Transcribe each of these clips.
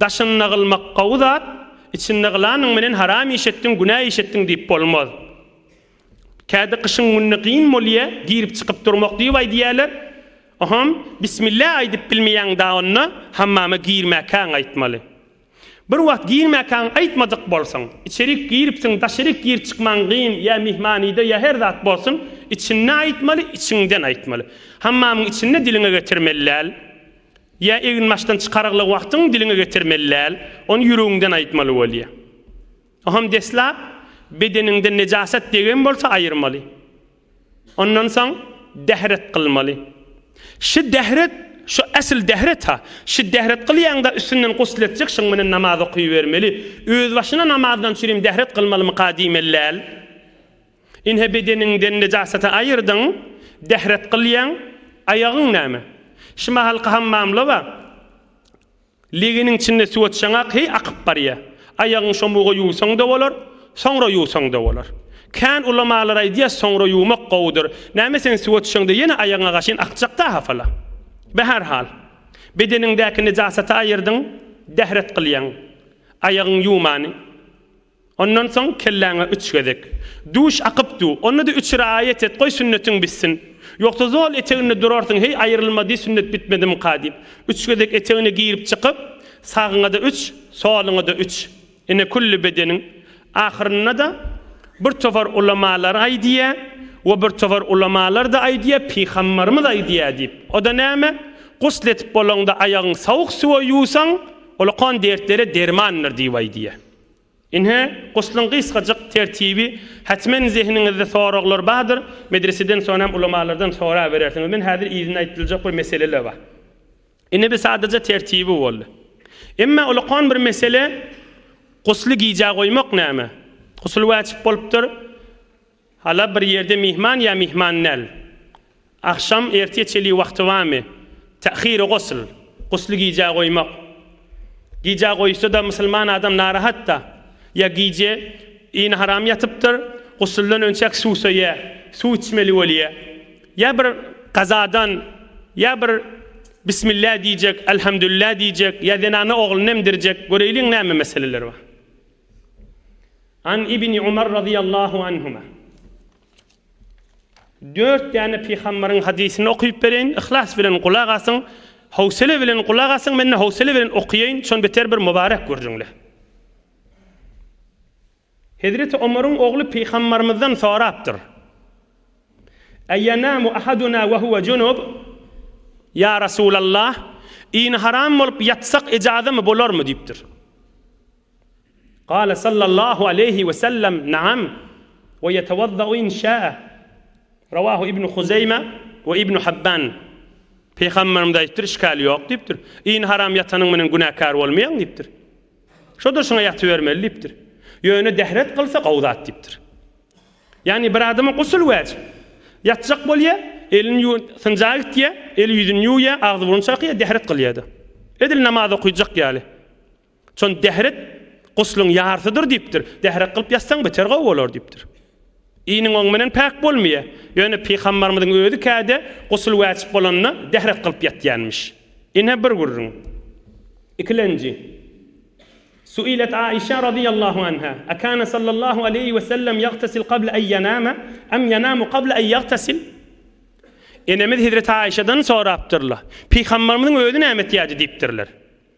Daşynda gylmak gowy zat, içinde gylanyň menen haram iş etdiň, günä iş etdiň diýip bolmaz. Käde gyşyň gününe gyn bolýa, girip çykyp durmak diýip aýdýaler. Oham, bismillah aýdyp bilmeýäň da onda, hammama girmäkäň aýtmaly. Bir wagt girmäkäň aýtmajak bolsaň, içerik giripsiň, daşaryk gir çykmaň gyn, ýa myhmanyda, ýa her zat bolsun, içinde aýtmaly, içiňden aýtmaly. Hammamyň içinde diliňe getirmeli däl. Ýa eginbaşdan çykarygly wagtyň diliňe getirmeli däl, ony ýüregiňden aýtmaly bolýar. Oham deslap bedeniňden nejasat degen bolsa aýyrmaly. Ondan soň dehret kylmaly. Şi dehret, şu esl dehret-ha. Şi dehret kylýaňda üstünden gusl etjek şoň menen namaz okybermeli. Özbaşyna namazdan çürim dehret kylmalymyka diýmeli däl. Ine bedeniňden nejasaty aýyrdyň, dähret gylýaň, aýagyň näme? Şumahalky hammamlawa, legeniň içinde suw atsaňak heý akyp barýa. Aýagyň şomuga ýuwsaň-da bolar, soňra ýuwsaň-da bolar. Kän ulamalar aýdýa soňra ýuwmak gowudyr. Näme sen suw atsaň-da ýene aýagyňa gaşyn akjak-da hafala. Be her hal. Bedeniňdäki nejasaty aýyrdyň, dähret gylýaň. Aýagyň ýuwmany. Ondan soň kelläňe üç gezek Duş akyp du, onda-da üç raýat et, goý sünnetiň bitsin. Ýogsa zol eteginde durarsyň, heý, aýrylma diý, sünnet bitmedimika diýip. Üç gezek etegine girip-çykyp, sagyňa-da üç, soluňa-da üç. Ine, külli bedeniň. Ahyrynda-da bir topar ulamalar aýdýar, we bir topar ulamalar-da aýdýar, pygambarymyz aýdýar diýip. O-da näme? Gusl edip bolaňda aýagyňy sowuk suwa ýuwsaň, ol okan dertlere dermandyr diýip aýdýar. Ine, guslyň gysgajyk tertibi, Hatmen zehniňizde soraglar bardyr, medreseden soň hem ulamalardan soraberersiňiz. Men häzir yzyna aýdyljak bir meseleler bar. Ine bir sadaja tertibi boldy. Emma ulakan bir mesele, gusly gijä goýmak näme? Gusul wajyp bolupdyr. Hala bir ýerde myhman ýa myhman däl? Agşam ertir çeli wagty barmy? Ta'hiri gusl, gusly gijä goýmak. Gijä goýuşsa-da musulman adam narahat-da. Ýa gije yny haram ýatypdyr, gusuldan önçäk suwsaýa, suw içmeli bolýa. Ýa bir gazadan, ýa bir Bismillah diýjek, Elhamdülillah diýjek, ýa zenana oglunu emdirjek, göreýliň näme meseleler bar. An Ibni Umar razyýallahu anhuma. Dört däne pygambaryň hadysyny okyp bereýin, yhlas bilen gulak asyň, howsele bilen gulak asyň, men-de howsele bilen okaýaýyn, şony beter bir mubarek görjüňle. Hezreti Omaryň ogly pygambarymyzdan sorapdyr. Aýanamu ahaduna we huwa junub? Ýa Resulallah, ini haram bolup ýatsak ejazamy bolarmy diýipdir. Gale sallallahu aleýhi we sellem, Naam, we ýetewazza-u in şa'a. Rawahu Ibnu Huzeýme we Ibnu Habban. Pygamberimiz aýdypdyr, Işgal ýok diýipdir. Iýn haram ýatanyň menen günäkär bolmaýaň diýipdir. Şo durşuna ýatybermeli diýipdir. Ýöne dehret kylsa gowy zat diýipdir. Ýagny bir adama gusl wajyp. Ýatjak bolýa, elini ýuw, synjaga gitýä, eli ýüzüni ýuwýa, agzy burny çakýa, dehret kylýa-da. Edil namaz okaýjak ýaly. Şon dährek guslyň ýarysydyr diýipdir. Dährek gylyp ýatsaň beter gowy bolar diýipdir. Iniň oň menen päk bolmaýar. Ýöne pygambarymyzyň özi käde gusl wäjip bolanda dährek gylyp ýatýanmyş. Ine bir gürrüň. Ikilenji. Suilet Aişa radyýallahu anha, Akana sallallahu aleýhi we sellem ýagtasil qabla en ýanama, em ýanamu qabla en ýagtasil? Enemiz Hezreti Aişadan sorapdyrlar. Pygambarymyzyň özi näme etýärdi diýipdirler.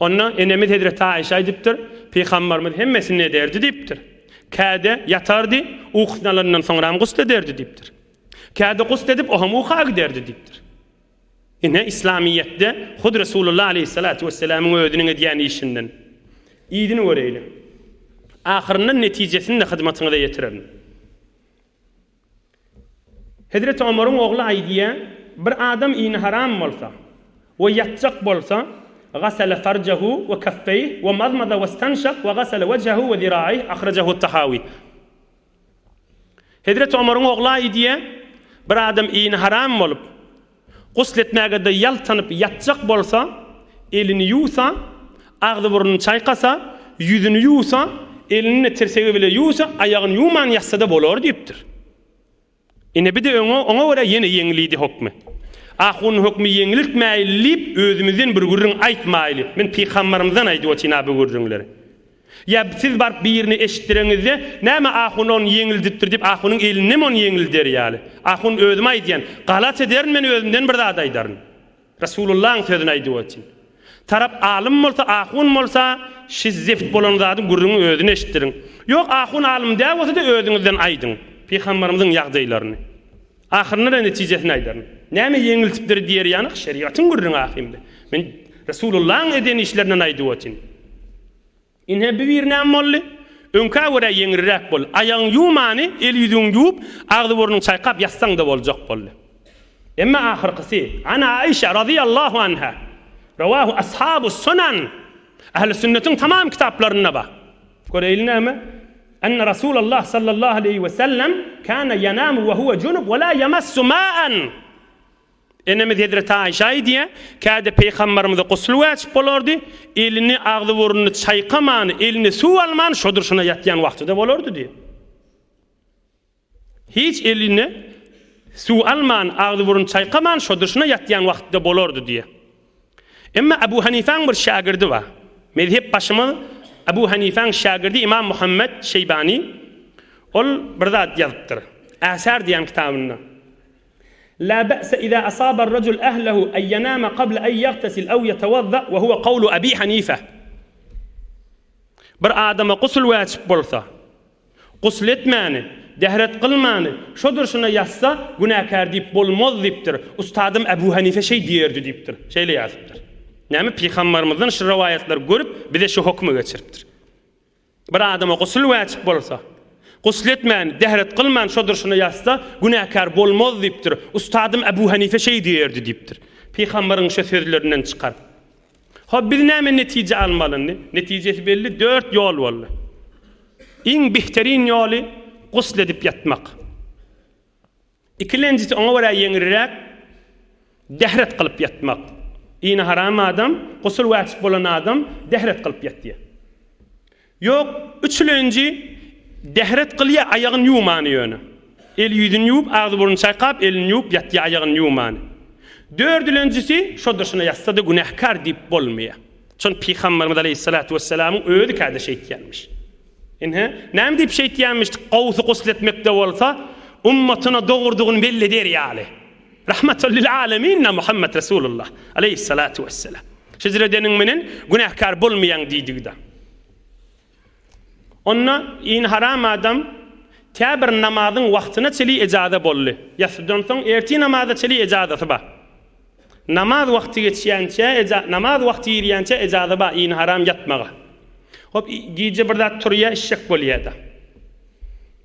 Onda enemiz hezreti Aişa aýdypdyr, Pygambarymyz hemmesini ederdi diýipdir. Käde ýatardy, ukusyny alandan soňram gusl ederdi diýipdir. Käde gusl edip ohem uka giderdi diýipdir. Ine islamyýetde hut Resulullah aleýhissalatu wessalamyň özüniň edýän işinden yzyny göreýliň. Ahyrynda netijesini-de hyzmatyňyza ýetirerin. Hezreti Omaryň ogly aýdýar, Bir adam ini haram bolsa we ýatjak bolsa, Gasala farjahu we kaffeýh we mazmaza westanşak we gasala wejhehu we ziraeýh, ahrajahu Tahawi. Hezreti Omaryň ogly aýdýar, Bir adam ini haram bolup, Gusl etmäge-de ýaltanyp ýatjak bolsa, elini ýuwsa, agzy-burnuny çaýkasa, ýüzüni ýuwsa, elini tirsegi bile ýuwsa, aýagyny ýuwman ýatsa-da bolar diýipdir. Ine, bi-de öňe, oňa görä ýene ýeňlidi hökmi. Ahun hökmi ýeňliltmäýli diýip, özümizden bir gürrüň aýtmaýly. Men pygambarymyzdan aýdyp otyryn-a bu gürrüňleri. Ýa siz baryp birine eşitdireňizde, Näme ahun ony ýeňildipdir diýip, ahunyň elindemi ony ýeňilder ýaly? Ahun, Özüm aýdýan, galat ederin men özümden bir zat aýdaryn. Resulyllahyň sözüni aýdyp otyn. Tarap alym bolsa, ahun bolsa, Siz zeft bolan zadyň gürrüňi özüne eşitdiriň. Ýok, ahun alym däl bolsa-da özüňizden aýdyň. Pygamberimiziň ýagdaýlaryny. Ahyrynda-da netijesini aýdaryn. Näme ýeňiltipdir diýer ýanak, şerigatyň gürrüňi ahyrynda. Men Resulullahyň eden işlerinden aýdyp otyryn. Ine, bu bir näme boldy? Öňkä görä ýeňilräk boldy. Aýagyňy ýuwmany, el-ýüzüňi ýuwup, agzy-burnuňy çaýkap ýatsaň-da boljak boldy. Emma ahyrkysy, An Aişa razyýallahu anha, Rowahu ashabus-sunan, Ähli sünnetiň tamam kitaplarynda bar. Göreýli näme? Enne Rasulallah sallallahu aleýhi we sellem kana yanamu we huwa junup we la yamassu ma'an. Enemiz Hezreti Aişe aýdýar, Käde Peýgamberimize gusl wajyp bolardy, elini, agzy-burnuny çaýkaman, eline suw alman şodur şuna ýatýan wagtyda bolardy diýip. Hiç eline suw alman, agzy-burun çaýkaman şo dyşyna ýatýan wagty-da bolardy diýýär. Emma Abu Hanifäň bir şägirdi bar. Mezhep başymyz Abu Hanifäň şägirdi Imam Muhammet Şeýbany ol bir zat ýazypdyr. Äsar diýýän kitabynda. La be'se iza asaba ar-rajul ahlahu an ýanama qabla an ýagtasil aw ýatawazza we huwa gawlu Abi Hanife. Bir adama gusl wajyp bolsa, Gusl etmäni, dehret kylmany şo durşuna ýatsa günäkär diýip bolmaz diýipdir. Ustadym Äbu Hanife şeý diýerdi diýipdir. Şeýle ýazypdyr. Näme pygambarymyzdan şu rowaýatlary görüp bize şu hokmy geçiripdir. Bir adama gusl wäjip bolsa, gusl etmäni, dehret kylmany şo durşuna ýatsa günäkär bolmaz diýipdir. Ustadym Äbu Hanife şeý diýerdi diýipdir. Pygambaryň şo sözlerinden çykar. Hop biz näme netije almalyny? Netijesi belli dört ýol boldy. Iň bihterin ýoly gusl edip ýatmak. Ikilenjisi oňa görä ýeňilräk dehret kylyp ýatmak. Ini haram adam, gusl wajyp bolan adam dehret kylyp ýatýar. Ýok, üçlenji dehret gylýa aýagyny ýuwmany ýöne. El ýüzüni ýuwup, agzy burnuny çaýkap, elini ýuwup ýatýa aýagyny ýuwmany. Dördülenjisi şo durşuna ýatsada günäkär diýip bolmaýa. Şony Pygamberimiz aleýhissalatu wessalamyň özi käde şeýtýänmiş. Ynha, näme diýip şeýtýänmiş, gowusy gusletmekde bolsa, ummatyna dogrudygyny belli eder ýaly. Rahmatal lil aleminna Muhammet Resulullah aleýhissalatu wesselam. Hijr edeniň menen günäkär bolmaýaň diýdigi-de. Onda in haram adam tä bir namazyň wagtyna çeli ejaza boldy. Ýasydan soň ertir namaza çeli ejazasy bar. Namaz wagty geçýänçä eja namaz wagty girýänçä ejaza bar in haram ýatmaga. Hop gije bir zat turýa işjek bolýada.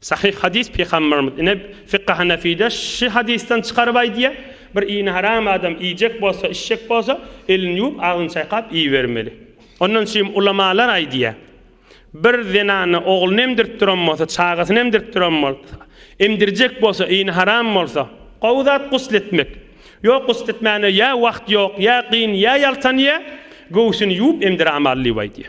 Sahyh hadys Pygamberimiz ine Fykh-y Hanefide şy hadysdan çykaryp aýdýa, Bir ini haram adam iýjek bolsa, içjek bolsa, elini ýuwup, agzyny çaýkap iýibermeli. Ondan çym ulamalar aýdýa, Bir zenana ogluny emdirip duran bolsa, çagasyny emdirip duran bolsa, emdirjek bolsa, ini haram bolsa, gowy zat gusl etmek. Ýok gusl etmäne ýa wagt ýok, ýa gyn, ýa ýaltanýa, göwsüni ýuwup emdir amally diýip aýdýa.